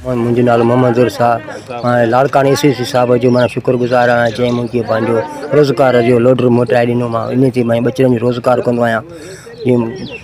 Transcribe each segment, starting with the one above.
منهنجو نالو محمد ظهور شاهه ۽ لاڙڪاڻي اي سي سي صاحب جو مانا شڪر گذار آهيان جنهن مونکي پنهنجو روزگار جو لوڊر موٽائي ڏنو ماهو ان تي ماهي ٻچڙن جو روزگار ڪندو آهيان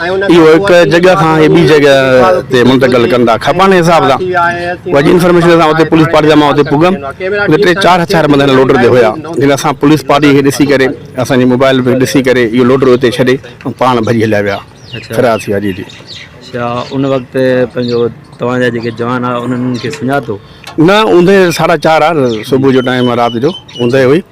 اهو هڪ جڳهه کان اهي ٻي جڳهه تي منتقل ڪن ٿا کپڻ حساب سان وڄي انفارميشن سان اتي پوليس پارٽي جا مان اتي پڳم اتي ٽي چار هٿيار بند هن لوڊر تي هيا جن اسان پوليس پارٽي کي ڏسي ڪري اسان جي موبائل به ڏسي ڪري اهو لوڊر اتي ڇڏي ۽ پاڻ ڀڄي هليا ويا فرار ٿي ويا جي جي اچھا ان وقت پنهنجو توهان جا جيڪي جوان هئا انهن کي سڃاتو نه اوندهه ساڍا چار آر صبح جو ٽائيم آ رات جو اوندهه هئي